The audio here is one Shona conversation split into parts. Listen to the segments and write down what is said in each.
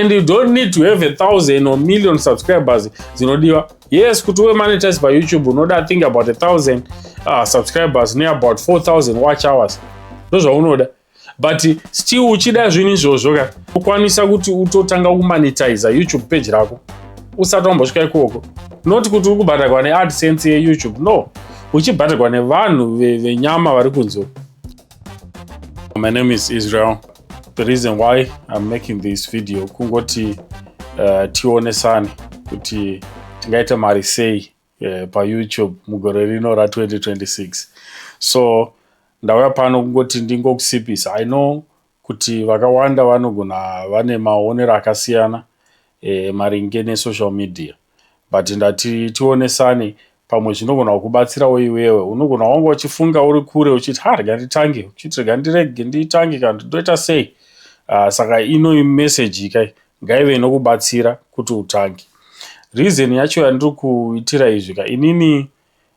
and you don't need to have a thousand or million subscribers dzinodiwa yes kuti uve monetize payoutube unoda think about a thousand uh, subscribers ne about 4000 watch hours ndozvaunoda but still uchida zvinhu izvozvo ka ukwanisa kuti utotanga kumonetize youtube page rako usati wambosvika ikoko not kuti uri kubhadharwa neadsense yeyoutube no uchibhadharwa nevanhu venyama vari kunzoo My name is Israel. The reason why I'm making this video kungoti uh, tionesane kuti tingaita mari sei uh, paYouTube mugore rino ra 2026. So ndauya pano kungoti ndingokusipisa. I know kuti vakawanda vanogona vane maonero akasiyana eh, maringe nesocial media. but ndati tionesane pamwe zvinogona kukubatsirawo iwewe unogona wanga uchifunga uri kure uchiti ha rega nditange uchiti rega ndirege nditange kana ndoita sei uh, saka ino message kai ngaive inokubatsira kuti utange reason yacho yandiri kuitira izvi ka inini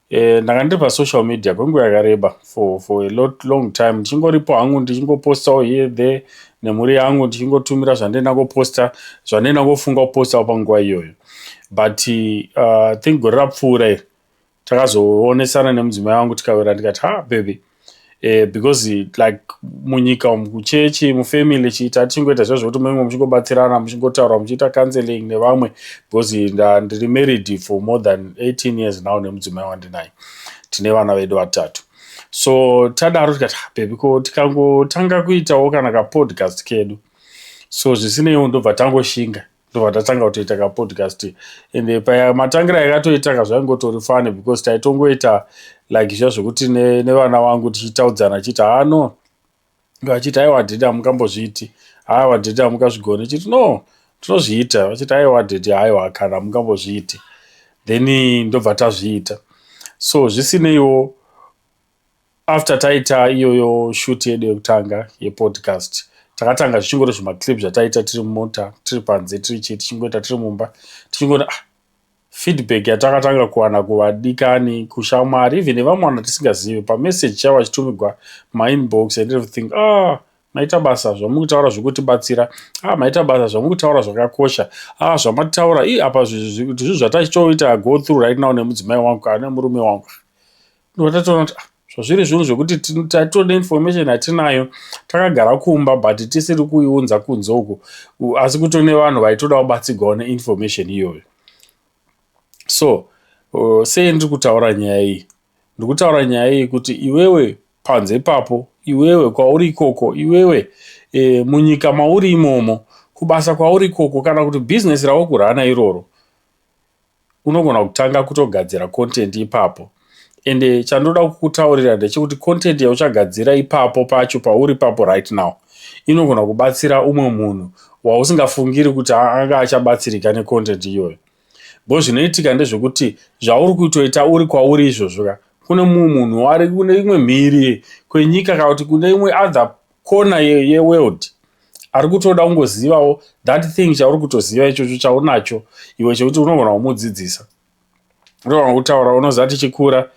Eh, ndanga ndiri pasocial media kwenguva yakareba for, for a lot long time ndichingoripo hangu ndichingopostawo here there nemhuri yangu ndichingotumira zvandienda koposta zvandienda kofunga kupostawo panguva iyoyo but uh, think gore rapfuura iri takazoonesana nemudzimai wangu tikawira ndikati ha baby eh, because like munyika umu kuchechi mufamily chiita tichingoita zviya zvekuti munenge muchingobatsirana muchingotaura muchiita counseling nevamwe because ndiri married for more than 18 years now nemudzimai wandinaye tine vana vedu vatatu so tadaro tikati ah, bebi ko tikangotanga kuitawo kana kapodcast kedu so zvisineiwo ndobva tangoshinga ndobva tatanga kutoita kapodcast ende paya matangira yakatoitaka zvaingotori fane because taitongoita like zviya zvekuti nevana ne vangu tichitaudzana achiti haa no vachiti aiwa dhedi hamukambozviiti haiwa dhedi hamukazvigone chiti no tinozviita vachiti aiwa dhedi haiwa kana hamukambozviiti then ndobva tazviita so zvisineiwo After taita iyoyo shoot yedu yekutanga yepodcast takatanga zvichingori zvimaclip zvataita tiri mumota tiri panze tiri chii tichingoita tiri mumba tichingona ah, feedback yatakatanga kuwana kuvadikani kushamwari even nevamwe vanhu tisingazivi pamessage chavo achitumigwa mainbox and everything ah, maita basa zvamuri kutaura zvekutibatsira ah, maita basa zvamuri kutaura zvakakosha ah, zvamatitaura i apa zvinhu zvatachitoita go through right now nemudzimai wangu kana nemurume wangu ndotatoona kuti ah, zvazviri zvinhu zvekuti tatode information hatinayo takagara kumba but tisiri kuiunza kunze uku asi kuto nevanhu vaitoda kubatsigwawo neinformation iyoyo so uh, sei ndiri kutaura nyaya iyi ndiri kutaura nyaya iyi kuti iwewe panze ipapo iwewe kwauri ikoko iwewe e, munyika mauri imomo kubasa kwauri ikoko kana kuti bhizinesi raukurana iroro unogona kutanga kutogadzira content ipapo ende chandoda kukutaurira ndechekuti content yauchagadzira ipapo pacho pauri papo right now inogona kubatsira umwe munhu wausingafungiri kuti anga achabatsirika necontent iyoyo bo zvinoitika ndezvekuti zvauri kutoita uri kwauri izvozvo ka kune mumwe munhu ari kune imwe mhiri kwenyika kana kuti kune imwe other corner ye, ye world ari kutoda kungozivawo that thing chauri kutoziva ichocho chaunacho iwe chekuti unogona kumudzidzisa unogona kutaura unoziva tichikura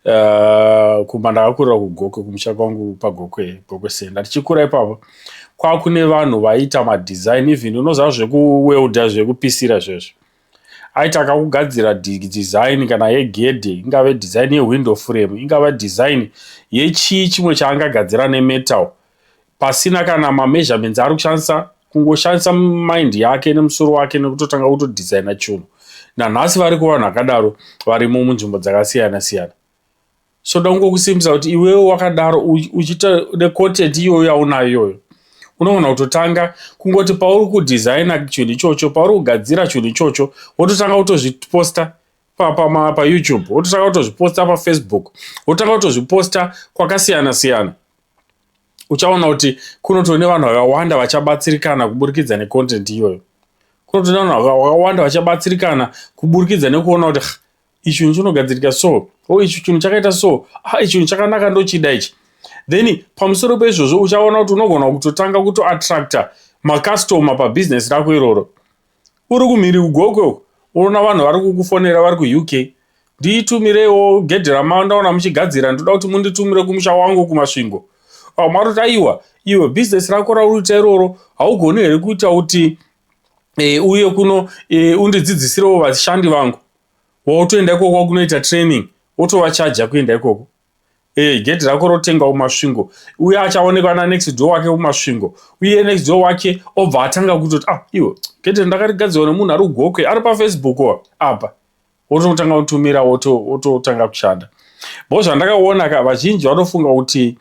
uh, kumba ndakakurira kugokwe kumusha kwangu pagokwe gokwe senda tichikura ipapo kwakune vanhu vaiita madesign even unoziva zvekuwelda zvekupisira zvezvo Aita kakugadzira design kana yegedhe, ingave design yewindow frame, ingava design yechii chimwe chaangagadzira nemetal pasina kana mameasurements aari kushandisa, kungoshandisa mind yake nemusoro wake nekutotanga kutodesigner chunhu. Nanhasi variko vanhu vakadaro varimo munzvimbo dzakasiyana siyana. so da kungokusimbisa kuti iwewe wakadaro uchiita necontent iyoyo yaunayo iyoyo unogona kutotanga kungoti pauri kudesigna chinhu ichocho pauri kugadzira chinhu ichocho wototanga kutozviposta payoutube wototanga kutozviposta pafacebook wototanga kutozviposta kwakasiyana siyana uchaona kuti kunotone vanhu vakawanda vachabatsirikana kuburikidza necontent iyoyo kunotone vanhu vakawanda vachabatsirikana kuburikidza nekuona kuti ichi chinhu chinogadzirika so o oh, ichi chinhu chakaita so ah, ichi chinhu chakanaka ndochida ichi then pamusoro peizvozvo uchaona kuti unogona kutotanga kutoattracta macustoma pabhizinesi rako iroro uri kumhiri kugokwe unoona vanhu vari kukufonera vari kuuk ndiitumireiwo gedhi ramao ndaona muchigadzira ndoda kuti munditumire kumusha wangu kumasvingo vamwe vatoti aiwa iwe bhizinesi rako rauri kuita iroro haugoni here kuita kuti e, uye kuno e, undidzidzisirewo vashandi vangu wautoenda ikoko kwakunoita training wotovachaja kuenda ikoko e, gedhi rako rotenga umasvingo uye achaonekwa nanext door wake umasvingo uye next door wake obva atanga kutoti ah iwo gedhi ndakarigadzirwa nemunhu ari ugokwe ari pafacebook apa wototanga kutumira wototanga kushanda bo zvandakaona ka vazhinji vanofunga kuti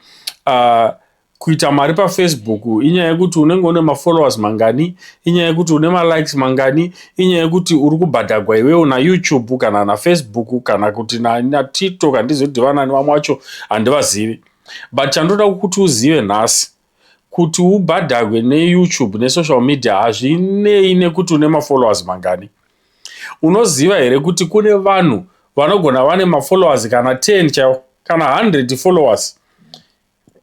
uh, Kuita mari pafacebook inyaya yekuti unenge une mafollowers mangani, inyaya yekuti une malikes mangani, inyaya yekuti uri kubhadhagwa iwewo naYoutube kana naFacebook kana kuti naTikTok handizivi kuti vanani vamwe vacho handivazivi. But chandoda kuti uzive nhasi kuti ubhadhagwe neYoutube nesocial media hazvinei nekuti une mafollowers mangani. Unoziva here kuti kune vanhu vanogona vane mafollowers kana 10 chaiwo kana 100 followers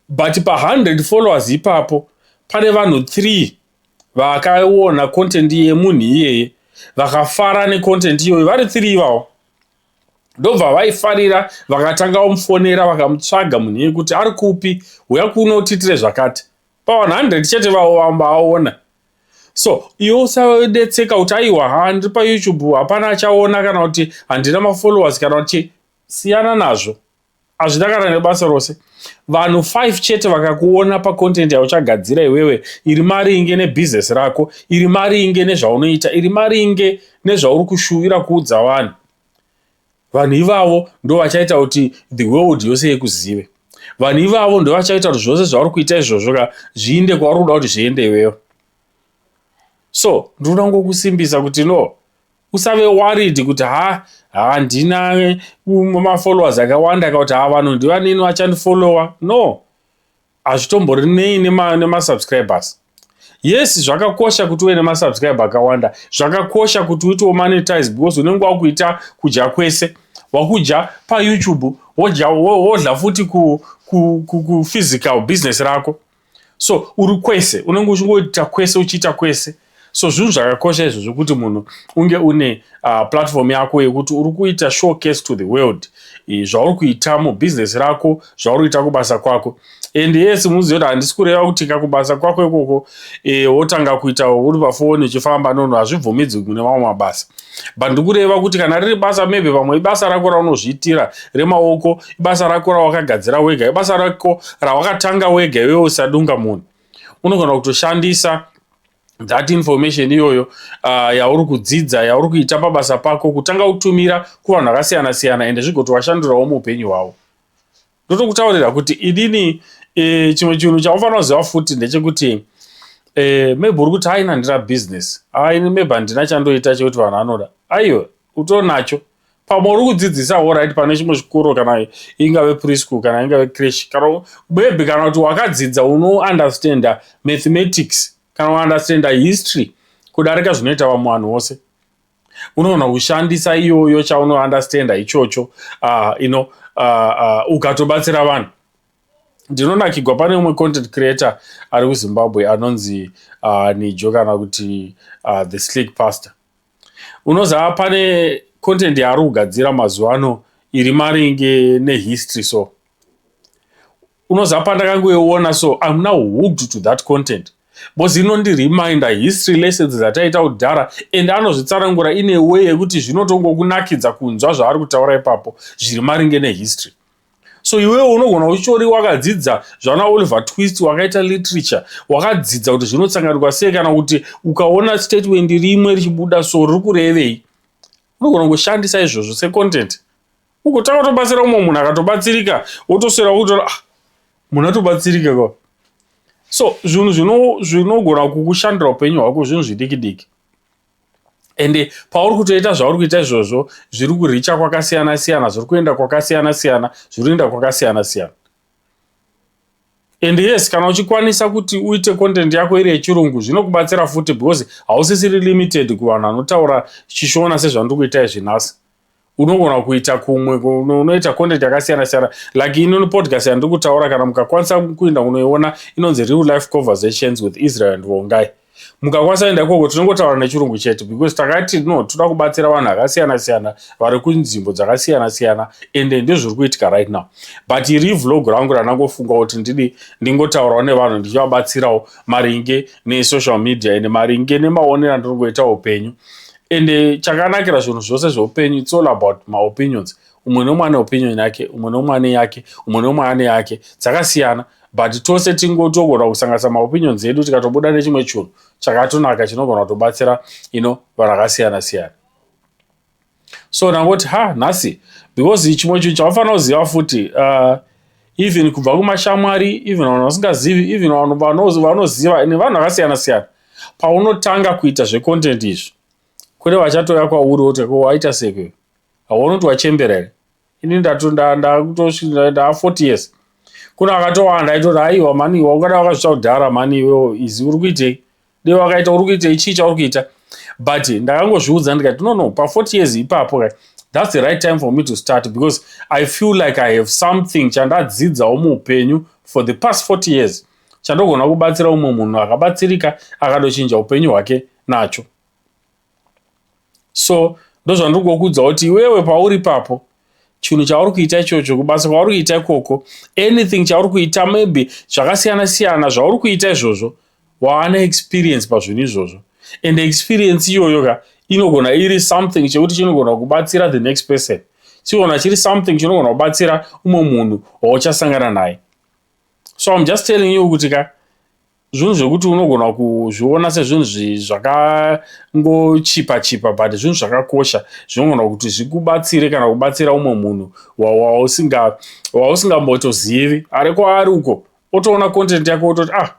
but pa 100 followers ipapo pane vanhu 3 vakaona content yemunhu iyeye vakafara necontent iyoyo vari 3 ivawo ndobva vaifarira vakatanga omufonera vakamutsvaga munhu iye kuti ari kupi huya kuno utitire zvakati pa 100 chete vavo vamba aona so iwe usadetseka kuti aiwa ha ndiri payoutube hapana achaona kana kuti handina mafollowers kana kuti siyana nazvo hazvina kana nebasa rose vanhu 5 chete vakakuona pacontent yauchagadzira iwewe iri mari inge nebusiness rako iri mari inge nezvaunoita iri mari inge nezvauri kushuvira kuudza vanhu vanhu ivavo ndo vachaita kuti the world yose yekuzive vanhu ivavo ndo vachaita kuti zvose zvauri kuita izvozvo ka zviinde kwauri kuda kuti zviende iwewe so ndinoda kungokusimbisa kuti no Usave worried kuti ha handina eh, mafollowers akawanda ka kuti ha vanhu ndivanini vachandifollowa. No, hazvitomborinei nemasubscribers nema yes zvakakosha kuti uve nemasubscribe akawanda zvakakosha kuti uite womonetize because unenge wakuita kudya kwese wakudya payoutube wodya wodla futi kuphysical ku, ku, business rako so uri kwese unenge uchingoita kwese uchiita kwese so zvinhu zvakakosha izvo zvekuti munhu unge une uh, platform yako yekuti uri kuita showcase to the world zvauri kuita mubhizinesi rako zvauri kuita kubasa kwako and yes muzive kuti handisi kureva kuti ka kubasa kwako ikoko e, wotanga kuita uri pafoni uchifamba nono hazvibvumidzwi kune mamwe mabasa but ndikureva kuti kana riri basa maybe vamwe ibasa rako raunozviitira remaoko ibasa rako rawakagadzira wega ibasa rako rawakatanga wega iwewe usadunga munhu unogona kutoshandisa that information iyoyo uh, yauri kudzidza yauri kuita pabasa pako kutanga kutumira kuvanhu vakasiyana siyana ende zvigoti washandurawo muupenyu hwavo ndotokutaurira kuti inini e, chimwe chinhu chaufanira kuziva futi ndechekuti e, maybe uri kuti haina ndira business aini maybe handina chandoita chekuti vanhu vanoda aiwe utonacho pamwe uri kudzidzisa orit pane chimwe chikoro kana ingave preschool kana ingave crash kana maybe kana kuti wakadzidza unounderstanda mathematics kana uunderstanda history kudarika zvinoita vamwe vanhu vose unoona kushandisa iyoyo chauno understanda ichocho uh, you know, uh, uh, ukatobatsira vanhu ndinonakigwa pane umwe content creator ari kuzimbabwe anonzi uh, nijo kana kuti uh, the slick pastor unoziva pane content yaari kugadzira mazuva ano iri maringe nehistory so unoziva pandakangoiona so im now hooked to that content bcause inondireminder history lessons dzataita kudhara and anozvitsanangura in a way yekuti zvinotongokunakidza kunzwa zvaari kutaura ipapo zviri maringe nehistory so iwewo unogona uchitori wakadzidza zvana oliver twist wakaita literature wakadzidza kuti zvinotsanganikwa sei kana kuti ukaona statement rimwe richibuda so riri kurevei unogona kushandisa izvozvo secontent ugotanga kutobatsira umwe munhu akatobatsirika wotoswera wokutora ah, munhu atobatsirika ka so zvinhu zvinogona kukushandira upenyu hwako zvinhu zvidiki diki ende pauri kutoita zvauri kuita izvozvo zviri kuricha kwakasiyana siyana zviri kuenda kwakasiyana siyana zviri kuenda kwakasiyana siyana and yes kana uchikwanisa kuti uite content yako iri yechirungu zvinokubatsira futi because hausisiri limited kuvanhu vanotaura chishona sezvandiri kuita izvi nhasi unogona kuita kumwe unoita content yakasiyana siyana like inoni podcast yandiri kutaura kana mukakwanisa kuenda kunoiona inonzi real life conversations with israel and vongai mukakwanisa kuenda ikoko tinongotaura nechirungu chete because takati no toda kubatsira vanhu akasiyana siyana vari kunzvimbo dzakasiyana siyana ende ndezviri kuitika right now but iri vlog rangu randangofunga kuti ndidi ndingotaurawo nevanhu ndichivabatsirawo maringe nesocial media ende maringe nemaonero andiri kuita upenyu ende chakanakira zvinhu zvose zveupenyu its all about maopinions umwe nomwe ane opinion yake umwe nomwe ane yake umwe nomwe ane yake dzakasiyana but tose tingotogona kusanganisa maopinions edu tikatobuda nechimwe chunhu chakatonaka chinogona kutobatsira ino vanhu akasiyana siyana so ndangoti ha nhasi because chimwe chinhu chaufanira kuziva futi uh, even kubva kumashamwari even vanhu vasingazivi even vanhu vanoziva ende vanhu vakasiyana siyana paunotanga kuita zvecontent izvi kune vachatouya kwauri woti ko waita seke hauoni kuti wachembera here ini ndakutosvindaa 40 years kune akatowanda aitoti aiwa mani iwa ungada wakazvita kudhara mani iweo izi uri kuitei dei wakaita uri kuitei chii chauri kuita but ndakangozviudza ndikati no no pa40 years ipapo ka that's the right time for me to start because i feel like i have something chandadzidzawo muupenyu for the past 40 years chandogona kubatsira umwe munhu akabatsirika akadochinja upenyu hwake nacho so ndozvandiri kuokuudza kuti iwewe pauri papo chinhu chauri kuita ichocho kubasa kwauri kuita ikoko anything chauri kuita maybe zvakasiyana siyana zvauri kuita izvozvo waane experience pazvinhu izvozvo and experience iyoyo ka inogona iri something chekuti chinogona kubatsira the next person chiona chiri something chinogona kubatsira umwe munhu wauchasangana naye so I'm just telling you kuti ka zvinhu zvekuti unogona kuzviona sezvinhu zvakangochipa chipa but zvinhu zvakakosha zvinogona kuti zvikubatsire kana kubatsira umwe munhu wausingambotozivi ari kwaari uko otoona content yako ototi ah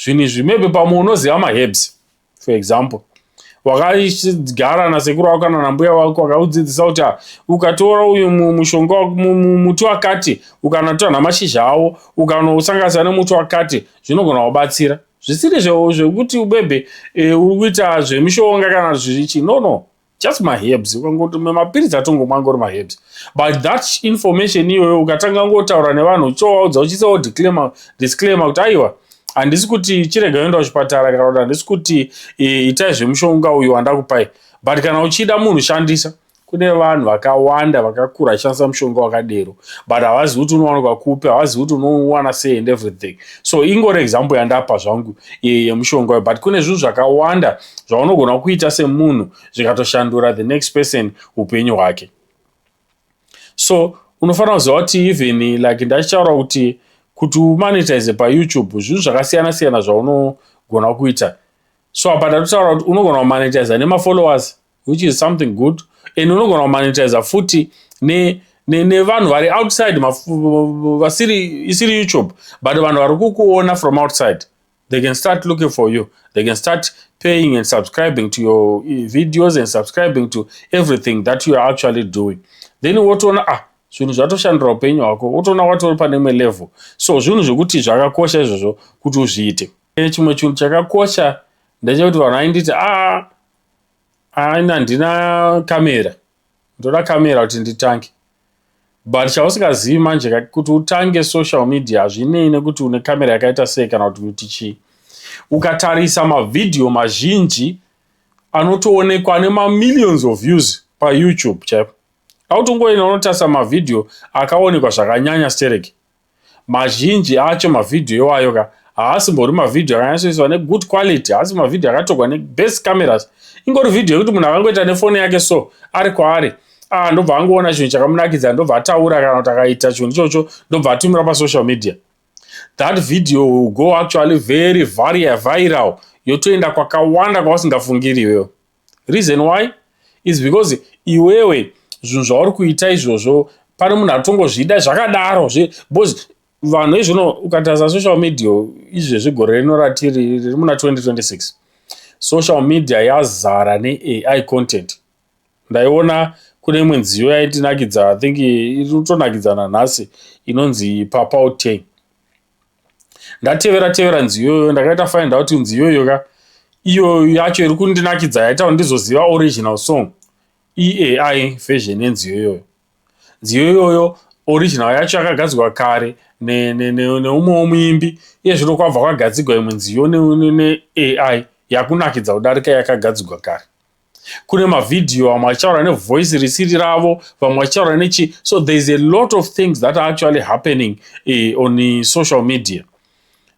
zvinhu izvi maybe pamwe unoziva maherbs for example wakagara nasekuru wako kana nambuya wako wakaudzidzisa kuti ah, ukatora uyu mushonga muti wakati ukanatora namashizha awo ukanosanganisa nemuti wakati zvinogona kubatsira zvisiri zvekuti ubebe e, uri kuita zvemishonga kana zvichi no no just maherbs ukangoti mapiritsi atongomwa angori maherbs but that information iyoyo ukatanga ngotaura nevanhu uchivaudza uchiisa wo declaimer disclaimer kuti aiwa handisi kuti chirega yoenda kuchipatara kana kuti handisi kuti e, itai zvemushonga uyu wandakupai but kana uchida munhu shandisa kune vanhu vakawanda vakakura achishandisa mushonga wakadero but havazi kuti unowanikwa kupi havazi kuti unowana sei and everything so ingori example yandapa zvangu e, yemushonga uyu but kune zvinhu zvakawanda zvaunogona kuita semunhu zvikatoshandura the next person upenyu hwake so unofanira kuziva kuti even like ndachichaura kuti kuti umonetize payoutube zvinhu zvakasiyana siyana zvaunogona kuita so apa ndatotaura kuti unogona kumonetiza nemafollowers which is something good and unogona kumonetiza futi ne nevanhu vari outside vasiri isiri youtube but vanhu vari kukuona from outside They can start looking for you. They can start paying and subscribing to your eh, videos and subscribing to everything that you are actually doing. Then wotoona ah zvinhu zvatoshandira upenyu hwako wotoona watori pane imwe level so zvinhu zvekuti zvakakosha izvozvo kuti uzviite eh, chimwe chinhu chakakosha ndechekuti vanhu vainditi a ah, aina handina kamera ndoda camera kuti nditange but chausingazivi manje kuti utange social media hazvinei nekuti une camera yakaita sei kana kuti kuti chii ukatarisa mavhidhiyo mazhinji anotoonekwa ane mamillions of views payoutube chaipo autongoenda unotarisa mavhidhiyo akaonekwa zvakanyanya stereki Mazhinji acho mavideo iwayo ka haasimbori mavideo akanyatsoiswa negood quality, haasi mavideo akatorwa nebest cameras. Ingori video yekuti munhu akangoita nefoni yake so ari kwaari ah, ndobva angoona chinhu chakamunakidza ndobva ataura kana kuti akaita chinhu ichocho ndobva atumira pasocial media. That video will go actually very varia viral yotoenda kwakawanda kwawasingafungiri iwewe. Reason why is because iwewe zvinhu zvauri kuita izvozvo pane munhu atongozvida zvakadaro zve because vanhu izvino ukatarisa social media izvezvi gore rino ratiri riri muna 2026 social media yazara neai content ndaiona kune imwe nziyo yaitinakidza i think iri kutonakidzana nhasi inonzi papa uteng ndatevera tevera nziyo iyoyo ndakaita find out nziyo iyo ka iyo yacho iri kundinakidza yaita kuti ndizoziva original song eai version yenziyo iyoyo nziyo iyoyo original yacho yakagadzirwa kare neumwewo muimbi iye zvino kwabva kwagadzigwa imwe nziyo neai yakunakidza kudarika yakagadzigwa kare kune mavhidhiyo vamwe vachitaura nevoice risiri ravo vamwe vachitaura nechi so there is a lot of things that are actually happening eh, on eh, social media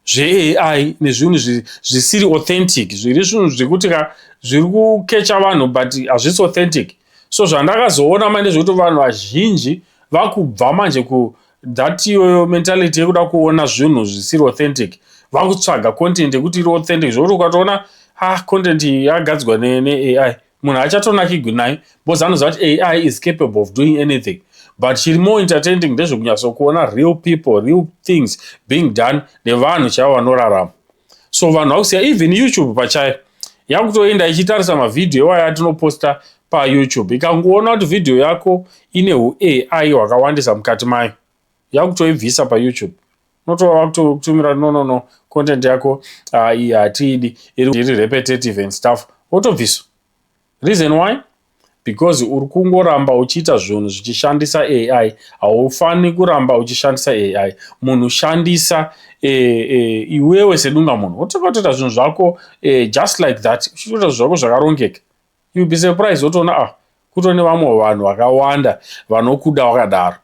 zveai nezvinhu zvisiri authentic zviri zvinhu zvekuti ka zviri kukecha vanhu but hazvisi authentic so zvandakazoona manje zvekuti vanhu vazhinji vakubva manje ku that iyoyo mentality yekuda kuona zvinhu zvisiri authentic vakutsvaga content yekuti iri authentic zvokuti ukatoona ah content yagadzwa neai munhu achatonakigwi nayo because anoziva kuti ai is capable of doing anything but chiri more entertaining ndezvekunyatsokuona real people real things being done nevanhu chaivo vanorarama so vanhu vakusiya even youtube pachayo yakutoenda ichitarisa mavhidhiyo iwaya atinoposta payoutube ikangoona kuti vhidhiyo yako ine uai hwakawandisa mukati mayo yakutoibvisa payoutube unotova vakutotumira no no no content yako ah, iyi hatiidi iri repetitive and stuff wotobviswa Reason why? Because uri kungoramba uchiita zvinhu zvichishandisa AI. Haufaniri kuramba uchishandisa AI. Munhu shandisa e, e, iwewe sedunga munhu. Wotoita zvinhu zvako e, just like that. Uchitoita zvinhu zvako zvakarongeka. You be surprised wotoona ah kuto nevamwe vanhu vakawanda vanokuda wakadaro.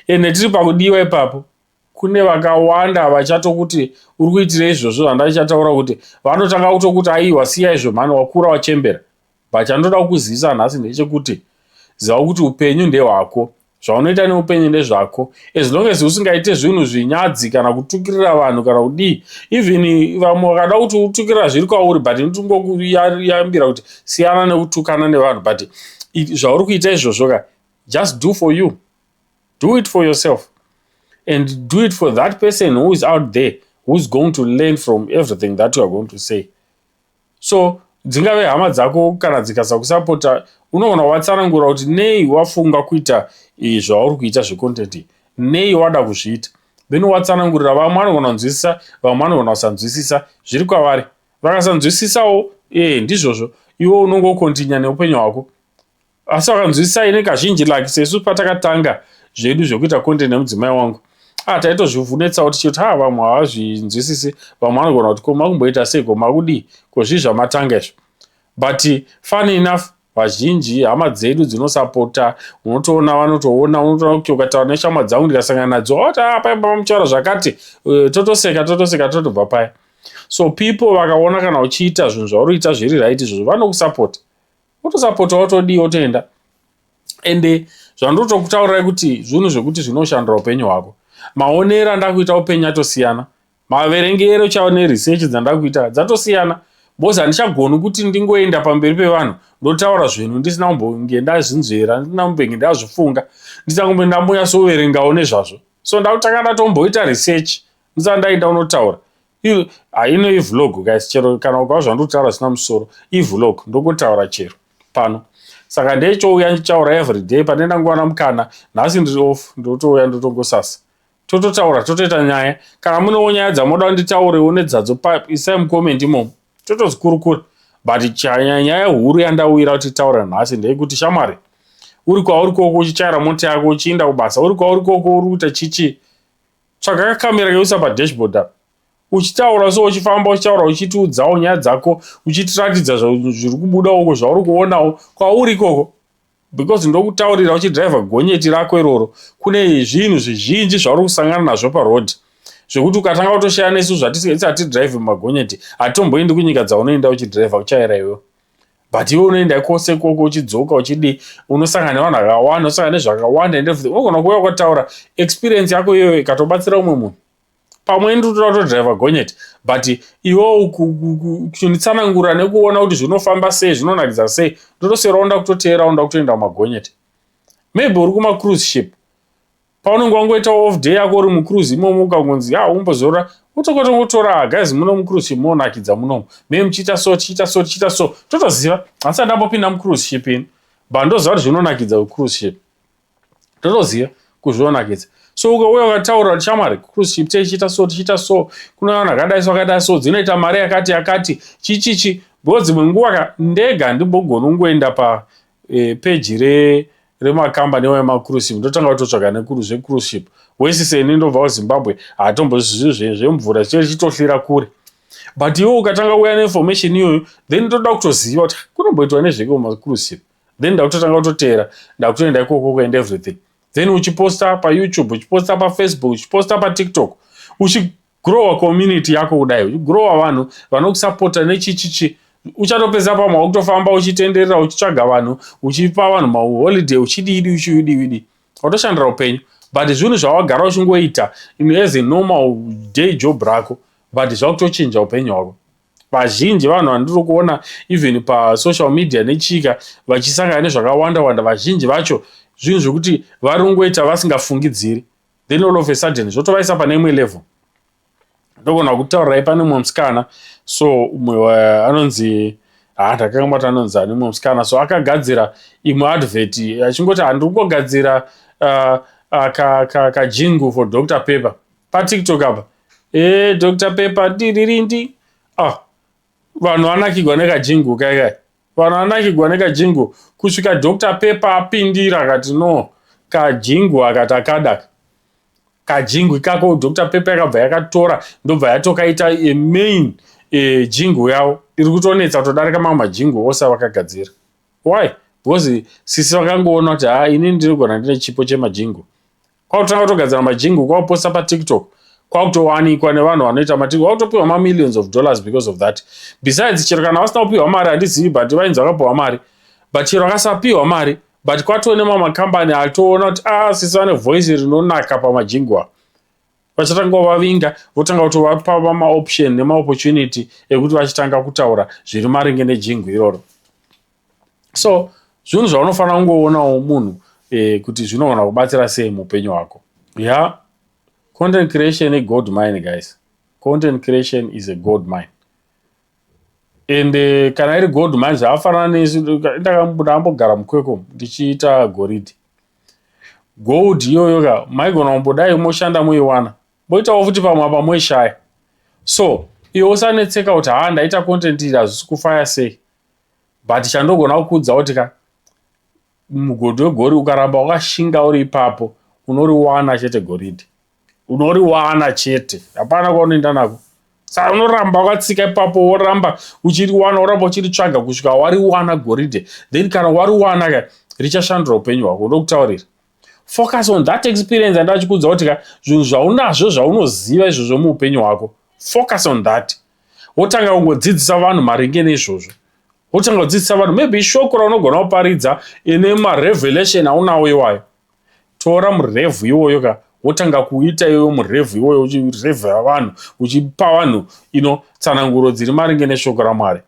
Ende tiri pakudiwa ipapo. kune vakawanda havachatokuti uri kuitira izvozvo zvandachichataura kuti vanotanga kutokuti aiwa siya izvo mhani wakura wachembera but chandoda kukuzivisa nhasi ndechekuti ziva kuti upenyu ndehwako zvaunoita neupenyu ndezvako as long as usingaite zvinhu zvinyadzi kana kutukirira vanhu kana kudii even vamwe vakada kuti utukirira zviri kwauri but ndingokuyambira kuti siyana nekutukana nevanhu but zvauri kuita izvozvo ka just do for you do it for yourself and do it for that person who is out there who is going to learn from everything that you are going to say so dzingave hama dzako kana dzikasakusapota unoona watsanangura kuti nei wafunga kuita zvauri kuita zvecontent nei wada kuzviita then watsanangurira vamwe vanogona kunzwisisa vamwe vanogona kusanzwisisa zviri kwavari vakasanzwisisawo ee eh, ndizvozvo iwe unongokontinya neupenyu hwako asi wakanzwisisa ini kazhinji like sesu patakatanga zvedu zvekuita content nemudzimai wangu ah taitozvivhunetsa kuti chiti ha vamwe havazvinzwisisi vamwe vanogona kuti ko makumboita sei ko makudii ko zvii zvamatanga izvo but funny enough vazhinji hama dzedu dzinosapota unotoona vanotoona unotoona kuti ukataura neshamwa dzangu ndikasangana nadzo oti ah pai baba muchaura zvakati eh, totoseka totoseka totobva paya so people vakaona kana uchiita zvinhu zvauri kuita zviri right izvozvo vanokusapota wotosapota wotodii wotoenda ende zvandotokutaurirai kuti zvinhu zvekuti zvinoshandira upenyu hwako maonero andakuita upenyu atosiyana maverengero chao neresearch dzandakuita dzatosiyana bcause handichagoni kuti ndingoenda pamberi pevanhu ndotaura zvinhu ndisina kumbonge ndazvinzvera ndisina kumbenge ndazvifunga ndisina kumbe ndambonyatsoverengawo nezvazvo so ndakutanga ndatomboita research ndisana ndaenda unotaura ino ivlog guys chero kana ukava zvandiri kutaura zvisina musoro ivlog ndokuntaura chero pano saka ndechouya ndichaura everyday pane ndangowana mukana nhasi ndiri off ndotouya ndotongosasa tototaura totoita nyaya kana munewo nyaya dzamoda nditaurewo nedzadzo pipe isai mucomment imomo totozikurukura but chanya nyaya huru yandauyira kuti taura nhasi ndeyekuti shamwari uri kwauri koko uchichaira mota yako uchiinda kubasa uri kwauri koko uri kuita chichi Tsvaga kakamera kekuisa padashboard apa uchitaura so uchifamba uchitaura uchitiudzawo nyaya dzako uchitiratidza zviri kubuda uko zvauri kuonawo kwauri ikoko because ndokutaurira uchidriver gonyeti rako iroro kune zvinhu zvizhinji zvauri kusangana nazvo paroad zvekuti ukatanga kutoshaya nesu zvatisati drive mumagonyeti hatomboendi kunyika dzaunoenda uchidriver uchaera iwe but iwe unoenda kwose ikoko uchidzoka uchidii unosangana nevanhu akawanda unosangana nezvakawanda and everything unogona kuuya ukataura experience yako iyoyo ikatobatsira umwe munhu pamwe ndi utoda kutodriver gonyeti but iwewo kunitsanangura nekuona kuti zvinofamba sei zvinonakidza sei ndotosera onda kutoteera onda kutoenda kumagonyeti maybe uri kumacruise ship paunenge wangoita off day yako uri mucruise imomo ukangonzi ya umbozorora utokotongotora guys muno mucruise ship monakidza munomo me muchiita so tichiita so tichiita so totoziva asi andambopinda mucruise ship ini but ndoziva kuti zvinonakidza kucruise ship totoziva kuzvinonakidza so ukauya ukataura chamwari cruise ship tichiita so tichiita so kune vanhu akadai so akadai so dzinoita mari yakati yakati chichichi because dzimwe nguva ka ndega ndimbogona kungoenda pa e, peji re remakambani iwayo makuruship ndotanga kutotsvaga nekuru zvekuruship wesi seni ndobva kuzimbabwe haatombo zvizi zvemvura zvichee zvichitohlira kure but iwe ukatanga kuuya neinformation iyoyo then ndoda kutoziva kuti kunomboitwa nezveke mumakuruship then ndakutotanga kutoteera ndakutoenda ikokoko and everything then uchiposta payoutube uchiposta pafacebook uchiposta patiktok uchi grower community yako kudai uchigrower vanhu vanokusapota nechichichi uchatopedza pamwe wakutofamba uchitenderera uchitsvaga vanhu uchipa vanhu maholiday uchidiidi uchiudiwidi watoshandira upenyu but zvinhu zvawagara uchingoita as a normal day job rako but zvakutochinja upenyu hwako vazhinji vanhu vandiri kuona even pasocial media nechika vachisangana nezvakawanda wanda vazhinji vacho zvinhu zvekuti vari kungoita vasingafungidziri then all of a sudden zvotovaisa pane imwe level ndogona kutaurirai pane umwe musikana so umwe eh, anonzi ha ah, ndakangambati anonzi ani umwe musikana so akagadzira imwe advert achingoti handiri kugadzira uh, uh, kajingu for dr paper patiktok apa e eh, dr paper diririndi ah vanhu vanakigwa nekajingu kaikai Vanhu vanakigwa nekajingo kusvika Doctor Pepa apindira akati no kajingo aka takadaka kajingo ikako Doctor Pepa yakabva yakatora ndobva yatokaita a main e, jingo yavo iri kutonetsa kutodarika mamwe majingo ose avakagadzira why because sisi vakangoona kuti haa ini ndinogona ndine chipo chemajingo Kwakutanga kutogadzira majingu kwakuposta patiktok kwakutowanikwa nevanhu vanoita matiktok kwakutopiwa mamillions of dollars because of that besides chero kana vasina kupiwa mari handizivi but vainzi vakapiwa mari but chero akasapiwa mari but kwatoo nemamakambani atoona kuti a ah, sisi vane voice rinonaka pamajingu avo vachatanga kuvavinga votanga kutovapa vamaoption nemaopportunity ekuti vachitanga kutaura zviri maringe nejingu iroro so zvinhu zvaunofanira kungoonawo munhu eh, kuti zvinogona kubatsira sei muupenyu hwako ya yeah. content creation igold mine guys content creation is a gold mine and uh, kana iri gold mine zvaafanana nesu ndakabuda ambogara mukweko ndichiita goridhe gold iyoyo ka maigona kumbodai moshanda muiwana moitawo futi pamwe apa moishaya so iwe usanetseka kuti haa ndaita content iri hazvisi kufaya sei but chandogona kukuudza kuti ka mugodhi wegori ukaramba wakashinga uri ipapo unoriwana chete goridhe unoriwana chete hapana kwaunoenda nako saka unoramba wakatsika ipapo woramba uchiriwana woramba uchiritsvaga kusvika wariwana goridhe then kana wariwana ka richashandura upenyu hwako ndokutaurira focus on that experience andachikuudza kuti ka zvinhu zvaunazvo zvaunoziva izvozvo muupenyu hwako focus on that wotanga kungodzidzisa vanhu maringe neizvozvo wotanga kudzidzisa vanhu maybe ishoko raunogona kuparidza ine marevelation aunawo iwayo tora murevhu iwoyo ka wotanga kuita iyoyo murevhu iwoyo uchirevhera vanhu uchipa vanhu ino tsananguro dziri maringe neshoko ramwari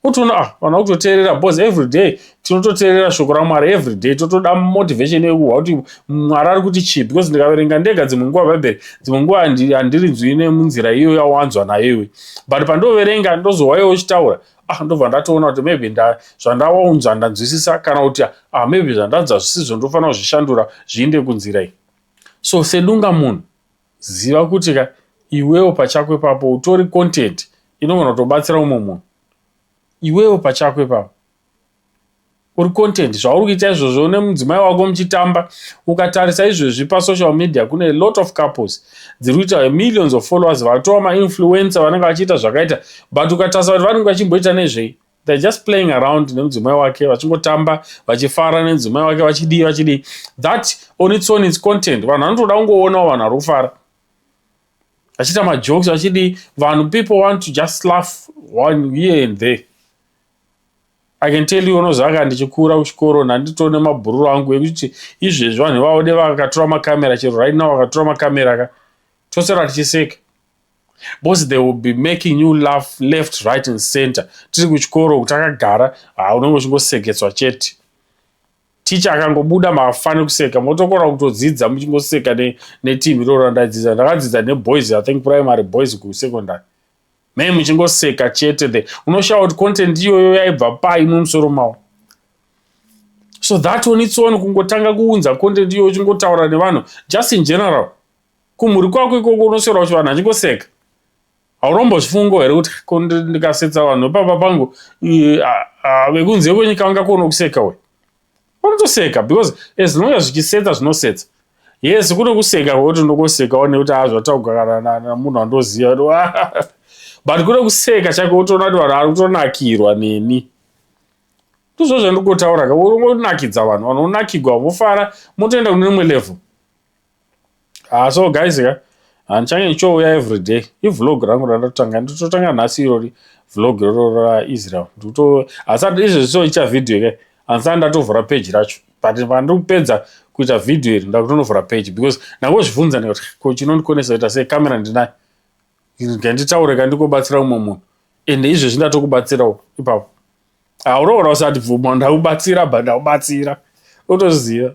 utoona ah vanhu vakutoteerera because every day tinototeerera shoko ramwari every day totoda motivation yekuhwa kuti mwari ari kuti chii because ndikaverenga ndega dzimwe nguva bhaibheri dzimwe nguva handirinzwi nemunzira iyo yawanzwa nayo iwe but pandoverenga ndozohwa iwe uchitaura ah ndobva ndatoona kuti maybe nda zvandawaunzwa ndanzwisisa kana kuti ah maybe zvandanzwa zvisizvo ndofanira kuzvishandura zviinde kunzira iyi so sedunga munhu Ziva kuti ka iwewo pachako ipapo utori content inogona kutobatsira umwe munhu. Iwewo pachako ipapo uri content zvauri kuita izvozvo une mudzimai wako muchitamba ukatarisa izvezvi pasocial media kune lot of couples dziri kuita millions of followers vatova mainfluencer vanenge vachiita zvakaita but ukatarisa kuti vanenge vachimboita nezvei they're just playing around nemudzimai wake vachingotamba vachifara nemudzimai wake vachidii vachidii that on its own its content vanhu vanotoda kungoonawo vanhu vari kufara vachiita majokes vachidii vanhu people want to just laugh one here and there i can tell you unozaka ndichikura kuchikoro ndanditori nemabhururu angu ekuti izvezvi vanhu vavode vakatora makamera chero right now vakatora makamera ka tosera tichiseka Boss they will be making you laugh left right and center. Tiri kuchikoro uku takagara ha unenge uchingoseketswa chete. Teacher akangobuda mafane kuseka motokora kutodzidza muchingoseka ne, ne team iroro randaidzidza. Ndakadzidza ne boys I think primary boys ku secondary. Me muchingoseka chete the unoshawa kuti content iyoyo yaibva pai mumusoro mawo. So that on its own kungotanga kuunza content iyoyo uchingotaura nevanhu just in general. kumhuri kwako ikoko unoswera kuti vanhu vachingoseka haurombozvifungo here kuti ko ndikasetsa vanhu vepamba pangu vekunze kwenyika vangakuona kuseka we vanotoseka because as long as zvichisetsa zvinosetsa yes kune kuseka kwekuti unokosekawo nekuti haa zvatauka kana namunhu andoziva but kune kuseka chake utoona kuti vanhu ari kutonakirwa neni ndizvo zvandikotaura ka unonakidza vanhu vanhu unakigwa vofara motoenda kune rimwe level Ah, so guys ka handichange ndichouya every day ivlog rangu randatotanga ndototanga nhasi irori vlog iroro raisrael ndikuto asi izvezvi soita vhidhiyo ke handisati ndatovhura peji racho but pandiri kupedza kuita vhidhiyo iri ndakutonovhura peji because ndangozvibvunza ndikati ko chinondikonesa kuita sei kamera ndinayo nganditaure ka ndikobatsira umwe munhu ende izvezvi ndatokubatsirawo ipapo auroora usati bvuma ndakubatsira but ndakubatsira utoziva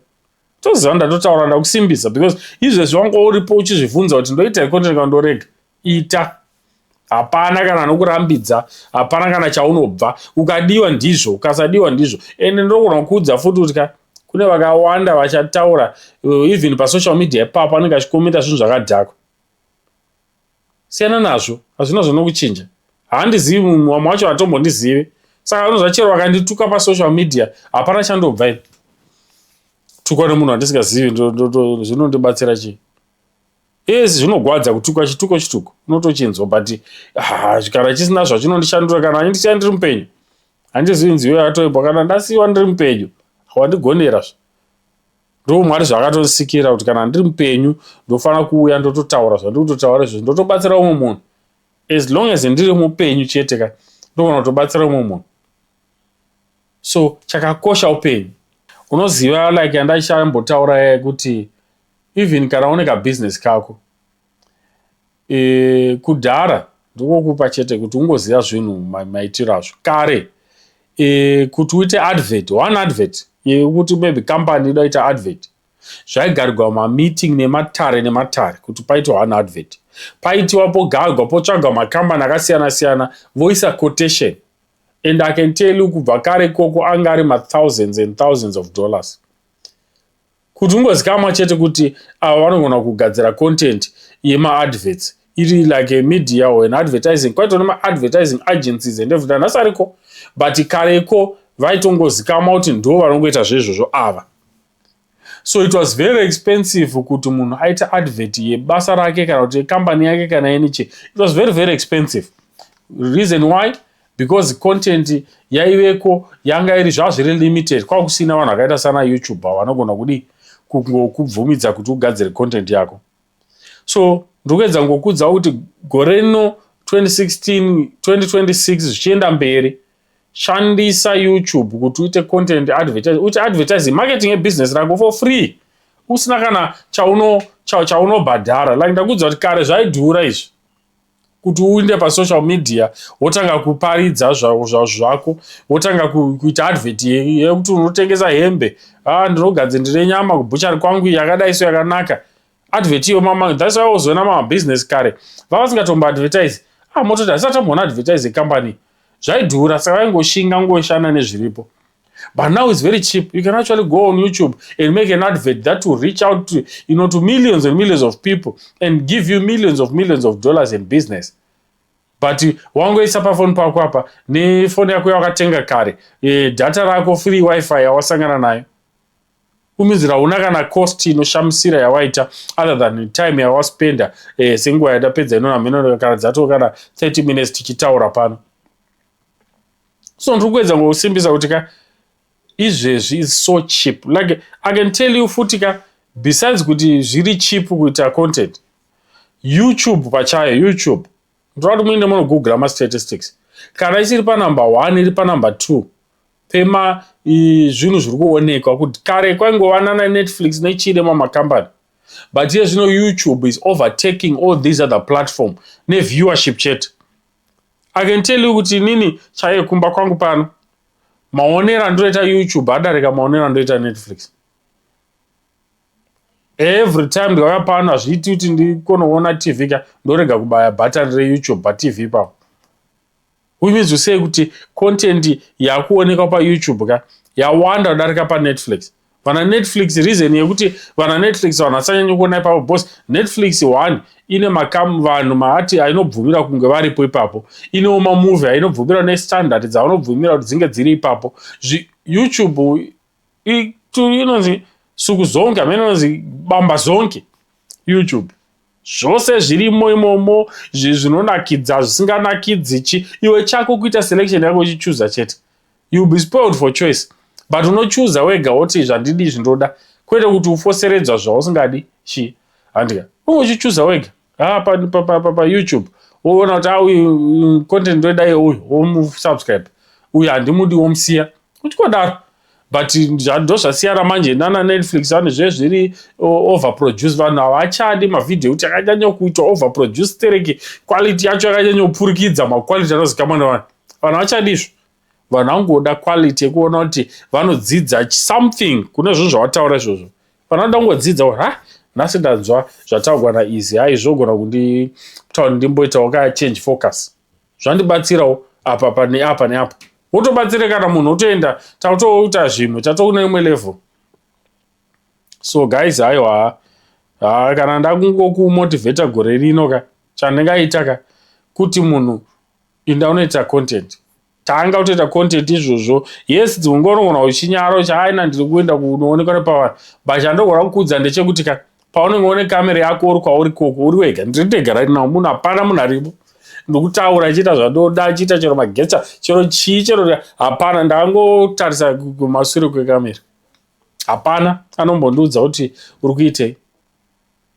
toziva ndatotaura ndakusimbisa because izvezvi wanga uripo uchizvivhunza kuti ndoita ikonti ndika ndorega ita hapana kana anokurambidza hapana kana chaunobva ukadiwa ndizvo ukasadiwa ndizvo ende ndokona kuudza futi kuti ka kune vakawanda vachataura uh, even pasocial media ipapa anenge achikomenta zvinhu zvakadhakwa Siyana nazvo, hazvina zvanokuchinja. Haandizivi mumwe, vamwe vacho hatombondizive. Saka vanonzva chero vakandituka pasocial media, hapana chandobva ini. Tukwa nemunhu wandisingazivi, zvinondibatsira chii? Yes, zvinogwadza kutukwa chituko chituko, unotochinzwa but ah, kana chisina zvachinondishandura kana andisiya ndiri mupenyu. Handizivi nziyo yatoibwa kana ndasiyiwa ndiri mupenyu, wandigonera zve. Ndoo Mwari zvakatosikira kuti kana ndiri mupenyu ndofanira kuuya ndototaura zvandiri kutotaura izvozvi ndotobatsira umwe munhu as long as ndiri mupenyu chete ka ndofanira kutobatsira umwe munhu so chakakosha upenyu unoziva like andachambotaura yaye kuti even kana une kabusiness kako E, kudhara ndikokupa chete kuti ungoziva zvinhu maitiro azvo kare e, kuti uite advert one advert yekuti maybe company ida kuita advert zvaigarirwa mameeting nematare nematare kuti paitwa one advert paitiwa pogarwa potsvagwa makambani akasiyana siyana voisa quotation and i can tell you kubva kare ikoko anga ari mathousands and thousands of dollars Kuti ungozikamwa chete kuti ava vanogona kugadzira content yemaadverts iri like a media or an advertising kwaito nemaadvertising agencies and everything nhasi ariko but kareko vaitongozikamwa kuti ndo vanongoita zvezvozvo ava so it was very expensive kuti munhu aite advert yebasa rake kana kuti yekambani yake kana yeniche it was very very expensive reason why because content yaiveko yanga iri zvazviri limited kwakusina vanhu vakaita sana youtuber vanogona kudii kungokubvumidza kuti ugadzire content yako so ndikuedza ngokudza kuti gore rino 2016 2026 zvichienda mberi shandisa youtube kuti uite content advertise uite advertising marketing ebusiness rako for free usina kana chaunobhadhara cha, cha like ndakuudza kuti kare zvaidhura izvi kuti uinde pasocial media wotanga kuparidza zvako wotanga kuita advert yekuti unotengesa hembe a ah, ndinogadze ndine nyama kubhuchari kwangu yakadai so yakanaka advert iyo mama thats why wozoona mamabusiness kare vavasingatombo advertise a ah, mototi hasati amboona advertise yecompany zvaidhura saka vaingoshinga ngoshanda nezviripo But now it's very cheap. You can actually go on YouTube and make an advert that will reach out to, you know, to millions and millions of people and give you millions of millions of dollars in business. But wangoisa pafoni pako apa nefoni yako yawakatenga kare e, data rako free wifi yawasangana nayo uminzira hauna kana cost inoshamisira yawaita other than time yawaspenda e, senguva yadapedza inona mheno kana dzatoo kana 30 minutes tichitaura pano so ndiri kuedza ngokusimbisa kuti ka izvezvi is so cheap like i can tell you futi ka besides kuti zviri cheap kuita content youtube pachayo youtube ndinoda kuti muine munogoogla mastatistics kana isiri panumber one iri panumber two pema zvinhu zviri kuonekwa kuti kare kwaingovanana nenetflix nechii nemamacompany but iye zvino youtube is overtaking all these other platform neviewership chete I can tell you kuti inini chaiye kumba kwangu pano maonero andoita youtube adarika maonero andoita netflix every time ndikauya pano hazviiti kuti ndikonoona tv ka ndorega kubaya button reyoutube patv ipapo uimizi usei kuti content yakuonekwa payoutube ka yawanda kudarika panetflix vana netflix reason yekuti vana netflix vanhu vasanyanya kuona ipapo bcause netflix one ine makam vanhu maati ainobvumira kunge varipo ipapo inewo mamovie ainobvumira nestandard dzavanobvumira kuti dzinge dziri ipapo youtube inonzi suku zonke amene inonzi bamba zonke youtube zvose zvirimo imomo zvinonakidza zvisinganakidzi chi iwe chako kuita selection yako uchichuza chete You'll be spoiled for choice but unochuza wega woti izvi handidi izvi ndoda kwete kuti ufoseredzwa zvausingadi chi handika unge uchichuza wega haa payoutube woona kuti auyu content ndoida iye uyu womusubscribe uyu handimudi womusiya uchingodaro but ndo zvasiyana manje nana netflix vane zve zviri overproduce vanhu havachadi mavhidhiyo ekuti akanyanyokuitwa overproduce tereki quality yacho yakanyanyopfurikidza maquality anozikamwa nevanhu vanhu havachadi izvo vanhu vangoda quality yekuona kuti vanodzidza something kune zvinhu zvawataura izvozvo vanhu vanoda kungodzidza kuti ha nhasi ndanzwa zvataurwa naizi hai zvogona kundita kuti ndimboitawo ka change focus zvandibatsirawo apa apa neapa neapa wotobatsire kana munhu otoenda tatoita zvimwe tatoune imwe level so guys haiwa ha kana ndakungokumotivheta gore rino ka chandingaita ka kuti munhu inda unoita content tanga utoita content izvozvo yes ungonogona uchinyara uchi aina ndiri kuenda kunoonekwa nepavanhu but chandogona kukuudza ndechekuti ka paunenge one kamera yako uri kwauri koko uri wega ndiri ndega right now munhu hapana munhu aripo ndikutaura chiita zvandoda chiita chero magetsa chero chii chero hapana ndangotarisa kumasure kwekamera hapana anombondiudza kuti uri kuitei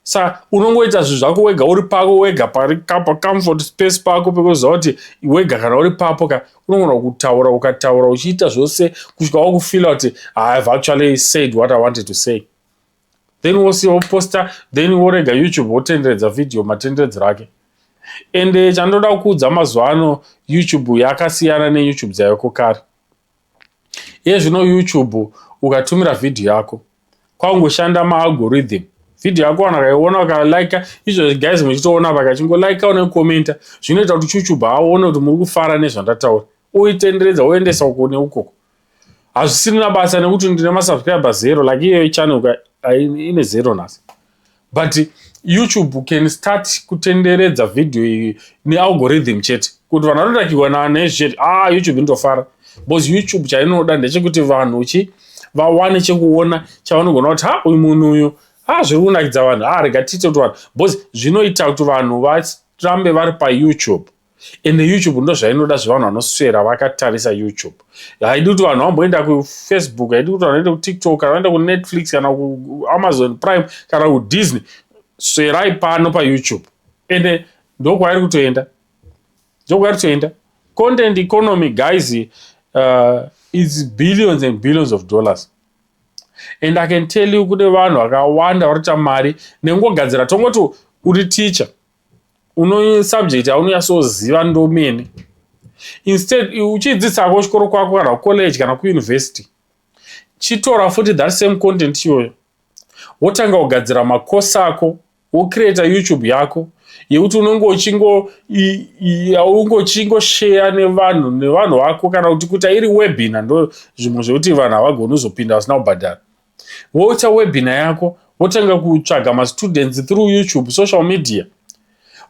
sa unongoita zvinhu zvako wega uri pako wega pari kapa comfort space pako pekuziva kuti wega kana uri papo ka unogona kutaura ukataura uchiita zvose kusvika wakufila kuti ihave actually said what i wanted to say then wosiya woposta then worega youtube wotenderedza vhidhiyo matenderedzero ake ende chandoda kuudza mazuva ano youtube yakasiyana neyoutube dzaiko kare Iye zvino YouTube ukatumira video yako kwakungoshanda maalgorithm video yako vanhu vakaiona vakalike izvo guys muchitoona vakachingo like une commenta zvinoita kuti chuchuba aone kuti muri kufara nezvandataura uitenderedza uendesa uko neukoko hazvisirina basa nekuti ndine masubscriber zero like iyoyo channel ine zero nhasi but youtube can start kutenderedza video iyi nealgorithm chete kuti vanhu vanotakirwa nezvechete a ah, youtube inotofara because youtube chainoda ndechekuti vanhu chi vawane chekuona chavanogona kuti ha uyu munhu uyu ha zviri kunakidza vanhu ha rega tiite kuti vanhu because zvinoita kuti vanhu varambe vari payoutube ende youtube ndo zvainoda zvevanhu vanoswera vakatarisa youtube haidi kuti vanhu vamboenda kufacebook haidi kuti vanoenda kutiktok kana vaenda kunetflix kana kuamazon prime kana kudisney swerai pano payoutube ende ndokwairi kutoenda ndokwairi kutoenda content economy guys uh, its billions and billions of dollars and i can tell you kune vanhu vakawanda varita mari nekungogadzira tongoti uri teacher uno subject yaunonyatsoziva ndomene instead uchidzidzisako chikoro kwako kana kucollege kana kuuniversity chitora futi that same content iyoyo wotanga kugadzira macourse ako wocreata youtube yako yekuti unenge uchingosheya nevanhu nevanhu vako kana kuti kuita iri webina ndo zvimwe zvekuti vanhu havagoni kuzopinda vasina kubhadhara Woita webinar yako wotanga kutsvaga mastudents through YouTube, social media.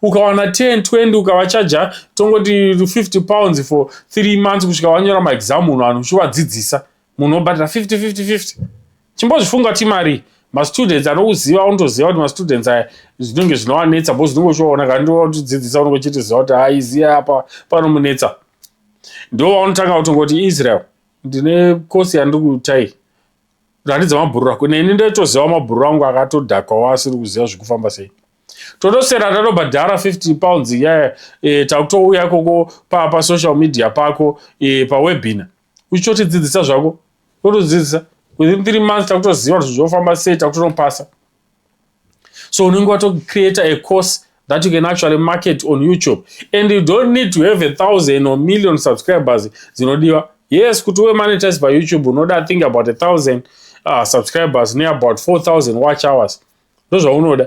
Ukawana 10, 20 ukavachaja tongoti 50 pounds for 3 months kusvika wanyora maexam munhu vanhu uchivadzidzisa. Munhu obhadhira 50 50 50. Chimbozvifunga kuti imari mastudents anokuziva unotoziva kuti mastudents aya zvinenge zvinowanetsa bho zvinenge uchivaona kana ndiwatidzidzisa unenge uchitiziva kuti haiziya apa panomunetsa ndovanotanga kutongoti israel ndine kosi yandiri kuita iyi ratidza mabhururu ako neni ndotoziva mabhururu angu akatodhakwawo asiri kuziva zvekufamba sei totosera tatobhadhara 15 pounds iyaya e, takutouya koko pasocial pa media pako e, pawebina uchitotidzidzisa zvako totodzidzisa within three months takutoziva kuti zvofamba sei takutonopasa so unenge watocreate a course that you can actually market on youtube and you don't need to have a thousand or million subscribers dzinodiwa yes kuti uve monetize payoutube unoda think about a thousand uh, subscribers neabout 4000 watch hours ndozvaunoda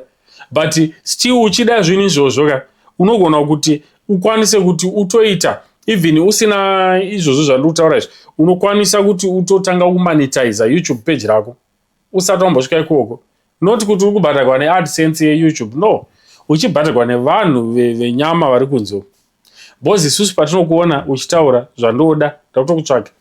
but still uchida zvinhu izvozvo ka unogona kuti ukwanise kuti utoita even usina izvozvo zvandiri kutaura izvi unokwanisa kuti utotanga kumonetiza youtube page rako usati wambosvika ikoko not kuti uri kubhadharwa neadsense yeyoutube no uchibhadharwa nevanhu venyama ve vari kunze bcoz isusu patinokuona uchitaura zvandoda takutokutsvake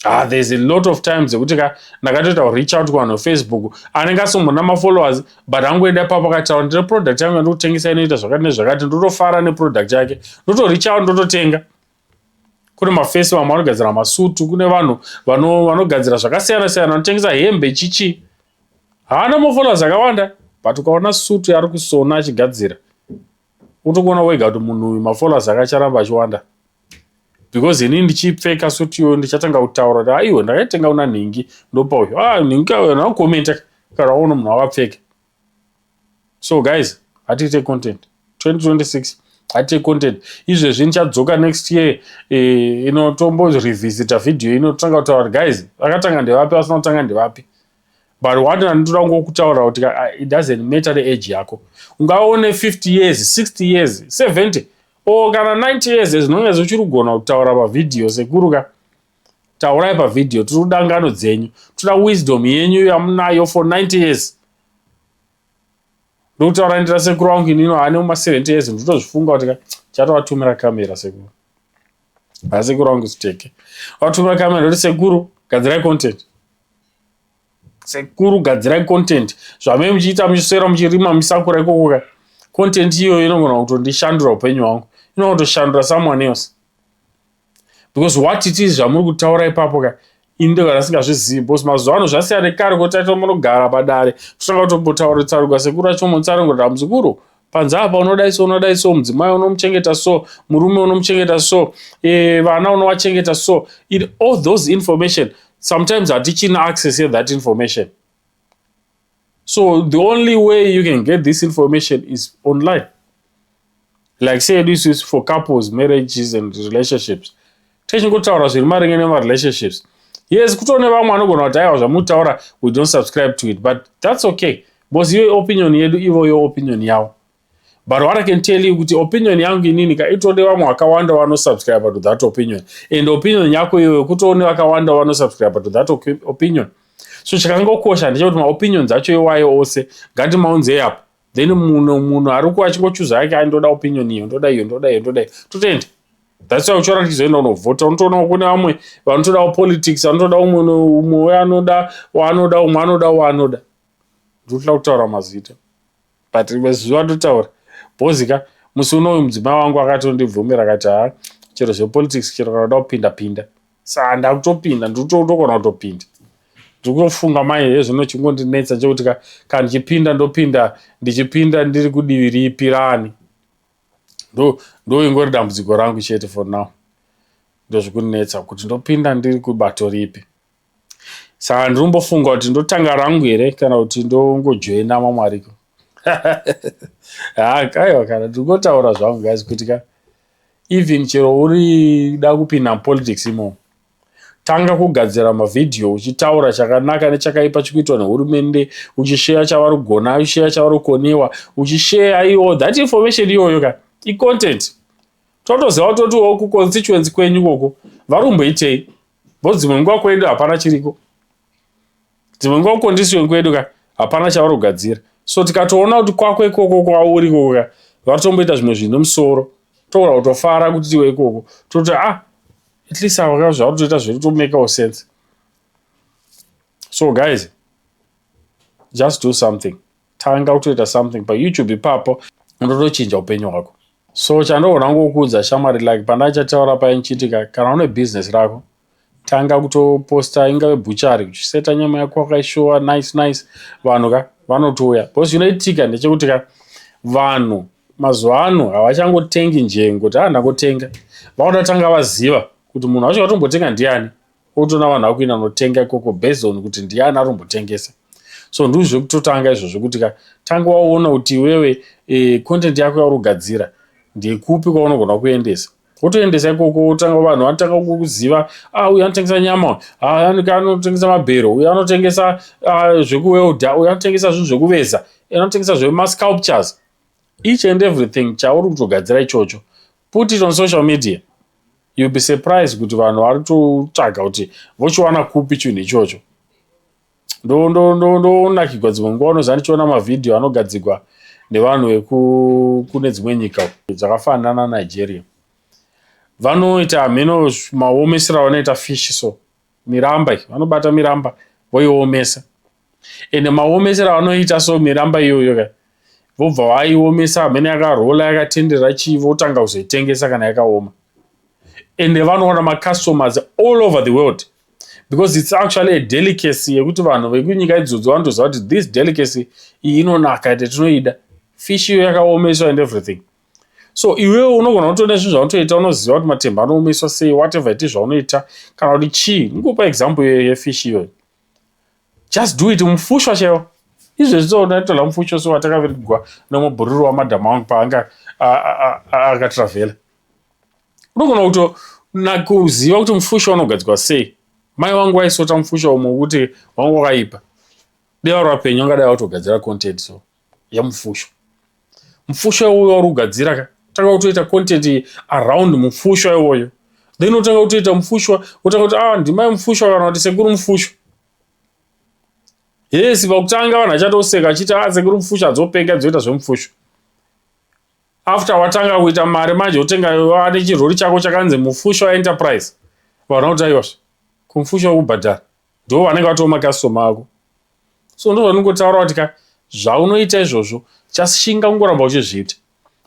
ah, there's a lot of time dzekuti ka ndakatoita kureach out kuvanhu vefacebook anenge asombona mafollowers but angoenda ipapo akataura ndine product yangu yandikutengesa inoita zvakati nezvakati ndotofara neproduct yake ndotoreach out ndototenga kune mafesi vamwe vanogadzira masutu kune vanhu vanogadzira zvakasiyana siyana vanotengesa hembe chichi haana mofolas akawanda but ukaona sutu yaari kusona achigadzira unotokuona wega kuti munhu uyu mafolas ake acharamba achiwanda because ini ndichipfeka sutu iyoyo ndichatanga kutaura kuti aiwe ndakaitenga una nhingi ndopa uyu a ah, nhingi kayo nakomenta kana waona munhu akapfeka so guys hatiite content 2026 hatiite content izvezvi ndichadzoka next year eh, ino tombo revisita video ino totanga kutaura kuti guys vakatanga ndevapi vasina kutanga ndevapi but one andinoda kungo kutaura kuti ah, it doesn't matter the age yako ungaone 50 years 60 years 70 or kana 90 years zvinonge zvichiri kugona kutaura pavideo sekuruka taurai pavideo tiri kuda ngano dzenyu toda wisdom yenyu yamunayo for 90 years ndokutaura ndira sekuru wangu inino ane uma 70 years ndotozvifunga kuti chatovatumira kamera sekuru haa sekuru wangu siteke vatumira kamera ndoti sekuru gadzirai content sekuru gadzirai content zvamee muchiita muchiswera muchirima musakura ikokoka content iyoyo inogona kutondishandura upenyu hwangu inogona kutoshandura someone else because what it is zvamuri kutaura ipapo ka ini ndega ndasingazvizivi bcause mazuva ano zvasiya nekare kuti taita munogara padare totanga kutombotaura tsaruka sekuru acho mutsaringo damuzukuru panze apa unodai so unodai so mudzimai unomuchengeta so murume unomuchengeta so e, vana unovachengeta so it all those information sometimes hatichina access yethat information so the only way you can get this information is online like say this is for couples marriages and relationships techingotaura zviri maringe nemarelationships yes kutone vamwe vanogona kuti aiwa zvamutaura we don't subscribe to it but that's okay because your opinion yedu ivo your opinion yavo but what i can tell you kuti opinion yangu inini ka itode vamwe vakawanda vanosubscribe to that opinion and opinion yako iyoyo kutoone vakawanda vanosubscribe to that opinion so chakangokosha ndechekuti maopinions acho iwayo ose ngatimaunzei apo then muno munhu ari ku achingochuza yake ai ndoda opinion iyo ndoda iyo ndoda iyo ndoda iyo totenda thats why uchiona tichizoenda unovhota unotoonawo kune vamwe vanotodawo politics anotoda umwe umwe we anoda waanoda umwe anoda waanoda ndotila kutaura mazita but rimwe zuva ndotaura bhozi ka musi uno uyu mudzimai wangu akatondibvumira akati haa chero zvepolitics chero kana uda kupinda pinda saa ndakutopinda ndikutogona kutopinda ndikutofunga mai hezvino chingondinetsa chekuti ka kana ndichipinda ndopinda ndichipinda ndiri kudivi ripi rani ndo ndo ingori dambudziko rangu chete for now ndozvikundinetsa kuti ndopinda ndiri kubato ripi saka ndinombofunga kuti ndotanga rangu here kana kuti ndongojoina mamwe ariko ha kaiwa kana ndingotaura zvangu guys kuti ka even chero uri da kupinda mupolitics imomo tanga kugadzira mavhidhiyo uchitaura chakanaka nechakaipa chikuitwa nehurumende uchisheya chavari kugona uchisheya chavari kukoniwa uchisheya iwo that information iyoyo ka icontent totoziva kutoti wo kuconstituency kwenyu koko vari kumboitei bo dzimwe nguva kwedu hapana chiriko dzimwe nguva kukondisioni kwedu ka hapana chavari kugadzira so tikatoona kuti kwako ikoko kwauri ikoko ka vari tomboita zvimwe zvinhu nemusoro togona kutofara kuti tiwe ikoko toti ah at least ava ka zvauri toita zviri tomekawo sense so guys just do something tanga kutoita something pa youtube ipapo unotochinja upenyu hwako so chandoona ngokuudza shamwari like pandachataura paya nchiitika kana une business rako tanga kutoposta ingave buchari uchiseta nyama yako wakaishuwa nice nice vanhu ka vanotouya bcause zvinoitika ndechekuti ka vanhu mazuva ano havachangotengi njengo kuti andakotenga ah, vakuda tanga vaziva kuti munhu wacho watombotenga ndiani otoona vanhu vakuenda notenga ikoko based on kuti ndiani ari kumbotengesa so ndii zvekutotanga izvo zvekuti ka tanga waona kuti iwewe e, content yako yauri kugadzira ndekupi kwaunogona kuendesa wotoendesa ikoko wotanga vanhu vanotanga kukuziva a ah, uyu anotengesa nyama anotengesa mabhero uyu anotengesa ah, zvekuwelda uyu anotengesa zvinhu zvekuveza anotengesa zvemasculptures each and everything chauri kutogadzira ichocho put it on social media you'll be surprised kuti vanhu vari kutotsvaga kuti vochiwana kupi chinhu ichocho ndonakigwa dzimwe nguva unoziva ndichiona mavhidhiyo anogadzigwa nevanhu vekune dzimwe nyika dzakafanana nigeria vanoita hameno maomesera vanoita fish so miramba vanobata miramba voiomesa ende maomesero avanoita so miramba iyoyo ka vobva vaiomesa hamene yakarola yakatenderera chii votanga kuzoitengesa kana yakaoma ende vanoona macustomers all over the world because its actually a delicacy yekuti vanhu vekunyika idzodzo vanotoziva kuti this delicacy iyi inonaka ende tinoida fish iyo yakaomeswa and everything so iwewe unogona kutoona zvinhu zvaunotoita unoziva kuti matemba anoomeswa sei whatever iti zvaunoita kana kuti chii nikupa example iyoyo yefish iyoyo Just do it mufushwa chero izvezvi tonaitola mufushwa so watakavirigwa nomubhururu wamadam wangu paanga akatravela unogona kuto nakuziva kuti mufushwa unogadzwa sei mai wangu waisota mufushwa umwe kuti wangu wakaipa deva rapenyu angadai watogadzira content so yemufusho mufusho uyo wauri kugadzira ka tanga kutoita content around mufusho iwoyo then otanga kutoita mufushwa otanga kuti ah ndimai mufushwa kana kuti sekuru mufushwa yes pakutanga vanhu achatoseka achiti ah sekuru mufushwa adzopenga adzoita zvemufushwa after watanga kuita mari manje otenga ane chirori chako chakanzi mufushwa enterprise vanhu vakuti aiwasva kumufushwa wekubhadhara ndo vanenge vatoo makastoma ako so ndo vanongotaura kuti ka zvaunoita izvozvo chashinga kungoramba uchizviita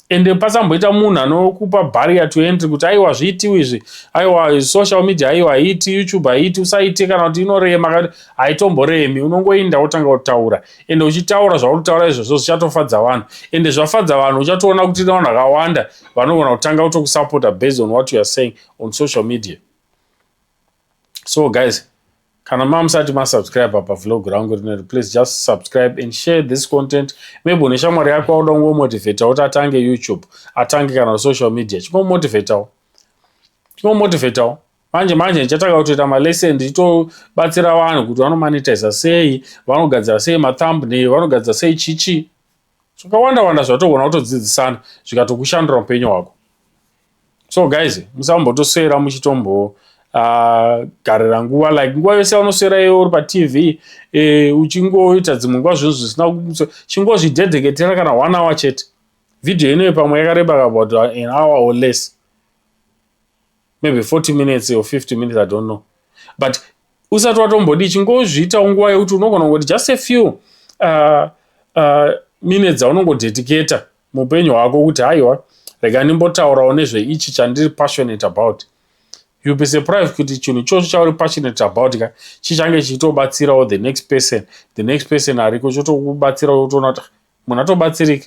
ende pasamboita munhu anokupa barrier to entry kuti aiwa zviitiwo izvi aiwa social media aiwa haiti youtube haiti usaite kana kuti inorema kati haitomboremi unongoinda wotanga kutaura ende uchitaura zvaunotaura izvozvo zvichatofadza vanhu ende zvafadza vanhu uchatoona kuti ine vanhu vakawanda vanogona kutanga kutokusapota based on what youare saying on social media so guys kana mamusati masubscribe apa vlog rangu rineri please just subscribe and share this content maybe une shamwari yako auda kungomotivatawo kuti atange youtube atange kana social media chingomotivatawo chingomotivatawo manje manje ndichatanga kutoita malesson ndichitobatsira vanhu kuti vanomonetiza sei vanogadzira sei mathumbnail vanogadzira sei chichi zvakawanda wanda zvatogona kutodzidzisana zvikatokushandura upenyu hwako so guys musambotoswera muchitombo uh, garira nguva like nguva yose yanoswera iwe uri patv e, uchingoita dzimwe nguva zvinhu zvisina chingozvidedheketera kana one hour chete vhidhiyo inoyo pamwe yakareba about an hour or less maybe 40 minutes or 50 minutes i don't know but usati watombodii chingozviitawo nguva yekuti unogona kungoti just a few uh, uh, minutes dzaunongodedicata muupenyu hwako kuti haiwa rega ndimbotaurawo nezveichi chandiri passionate about youll be surprised kuti chinhu ichocho chauri passionate about ka chichange chichitobatsirawo the next person the next person ariko chotokubatsirawo utoona kuti munhu atobatsirika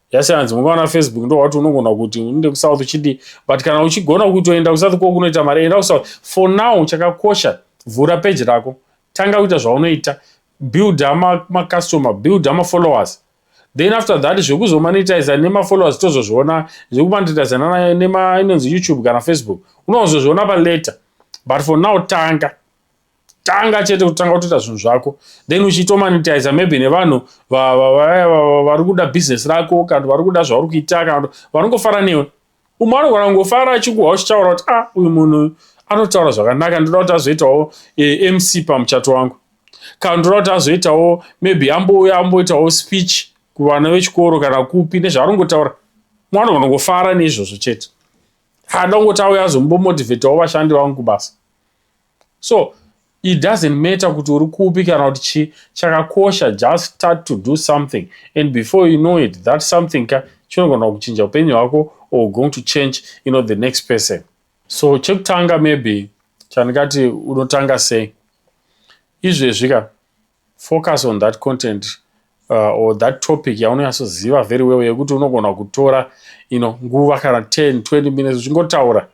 yasiyanzi mukaona facebook ndowakuti unogona kuti uninde kusouth uchidii but kana uchigona kutoenda kusouth ko kunoita mari enda kusouth for now chakakosha vhura peji rako tanga kuita zvaunoita build macustomer build mafollowers then after that zvekuzomanitiza nemafollowers tozozviona zvekumanitiza nema inonzi youtube kana facebook unozozviona palater but for now tanga tanga chete kutanga kutoita zvinhu zvako then uchiitomanitiza maybe nevanhu vari kuda business rako kana vari kuda zvauri kuita kana vanongofara newe umwe anogona kungofara achikuha uchitaura kuti a ah, uyu munhu anotaura zvakanaka ndoda kuti azoitawo eh, mc pamuchato wangu kana ndoda kuti azoitawo maybe ambouya amboitawo speech kuvana vechikoro kana kupi nezvaarongotaura mwana unongofara neizvozvo chete hada kungoti auya azombomotivhetawo vashandi vangu kubasa so it doesn't matter kuti uri kupi kana kuti chii chakakosha just start to do something and before you know it that something ka chinogona kuchinja upenyu hwako or going to change you know the next person so chekutanga maybe chandingati unotanga sei izvezvi ka Focus on that content uh, or that topic yaunonyatsoziva very well yekuti unogona kutora you know, nguva kana 10 20 minutes uchingotaura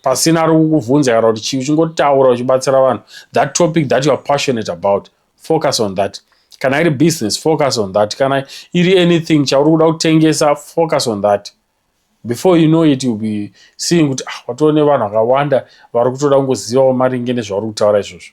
pasina ari kukubvunza kana kuti chii uchingotaura uchibatsira vanhu that topic that you are passionate about focus on that kana iri business focus on that kana iri anything chauri kuda kutengesa focus on that before you know it you'll be seeing kuti ah, watoone vanhu vakawanda vari kutoda kungozivawo maringe nezvauri kutaura izvozvo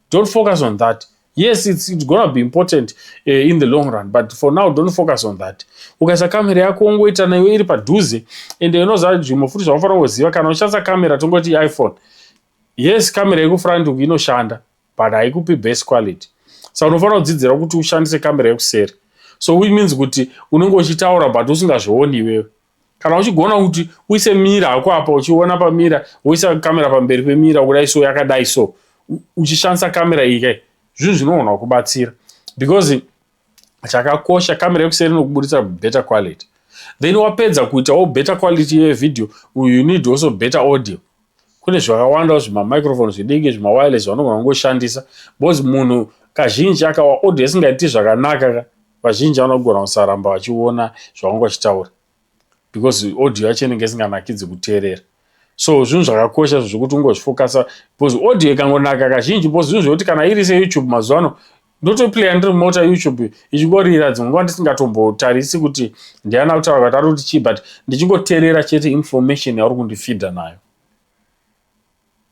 Don't focus on that. Yes, it's, it's gonna be important uh, in the long run, but for now don't focus on that. Ukaisa kamera yako ungoita nayo iri padhuze and unoziva nzvimbo futi zvaunofanira kuziva kana uchishandisa kamera tongoti iPhone. Yes, kamera yekufront uku inoshanda but haikupi best quality. Saka unofanira kudzidzira kuti ushandise kamera yekuseri. So which means kuti unenge uchitaura but usingazvioni iwewe. kana uchigona kuti uise mira hako apa uchiona pamira woisa kamera pamberi pemira kudai so yakadai so uchishandisa kamera iyi kai zvinhu zvinogona kubatsira because chakakosha kamera yekuseri inokuburitsa better quality then wapedza kuitawo better quality yevideo you need also better audio kune zvakawandawo zvimamicrophone zvidiki zvimawireless vanogona kungoshandisa because munhu kazhinji akawa audio isingaiti zvakanaka ka vazhinji vanogona kusaramba vachiona zvaunge vachitaura because audio yacho inenge isinganakidzi kuteerera so zvinhu zvakakosha zvekuti ungozvifokasa because audio ikangonaka kazhinji because zvinhu zvekuti kana iri seyoutube mazuva ano ndotoplaya ndiri mumota youtube ichingorira dzimwe nguva ndisingatombotarisi kuti ndiana kutaura kuti ari kuti chii but ndichingoterera chete information yauri kundifidha nayo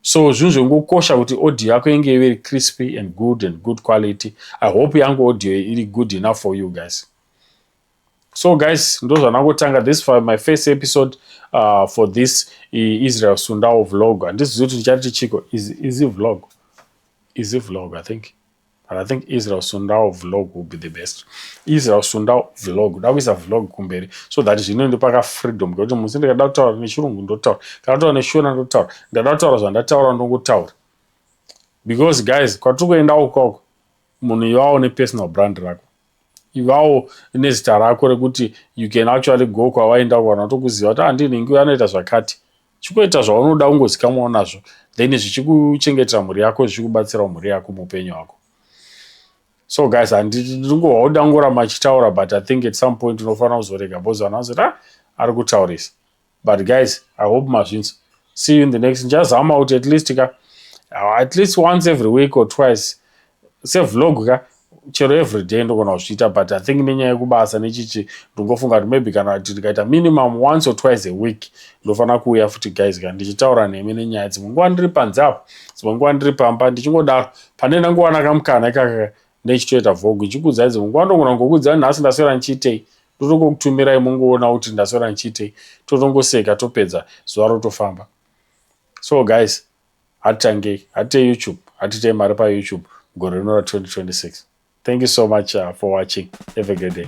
so zvinhu zvekungokosha kuti audio yako inge iri crispy and good and good quality i hope yangu audio iri good enough for you guys so guys ndozvanangotanga this for my first episode uh, for this israel sundawo vlog handizivi kuti ndichati chiko izi vlog izi vlog i think but i think israel sundawo vlog will be the best israel sundawo vlog da kuisa vlog kumberi so that zvino ndipaka freedom kuti musi ndikada kutaura nechirungu ndotaura kana kutaura neshona ndotaura ndada kutaura zvandataura ndongotaura because guys kwatiri kuenda ukoko munhu iwawo nepersonal brand rako Ivawo nezita rako rekuti you can actually go kwawaenda uko vanhu vatokuziva kuti ah ndiye nhingi uyo anoita zvakati. Chikoita zvaunoda ungozikamwawo nazvo then zvichikuchengetera mhuri yako zvichikubatsirawo mhuri yako muupenyu hwako. So guys handingohwa kuti angoramba achitaura but I think at some point unofanira kuzorega because vanhu vanozoti ah ari kutaurisa. but guys i hope mazvinzwa see you in the next ndichazama kuti at least ka uh, at least once every week or twice sevlog ka chero every day ndogona kuzviita but i think nenyaya yekubasa nechichi ndingofunga kuti maybe kana kuti ndikaita minimum once or twice a week ndofanira kuuya futi guys ka ndichitaura nemi nenyaya dzimwe nguva ndiri panze apo dzimwe nguva ndiri pamba ndichingodaro pane ndangowana kamukana ikaka Ndechitoita vlog ichikuudzai dzimwe nguva ndogona kungokuudzai nhasi ndaswera ndichiitei ndotongokutumirai mongoona kuti ndaswera ndichiitei totongoseka topedza zuva rotofamba so guys hatitangei hatitei youtube hatitei mari payoutube gore rino ra 2026 thank you so much uh, for watching have a great day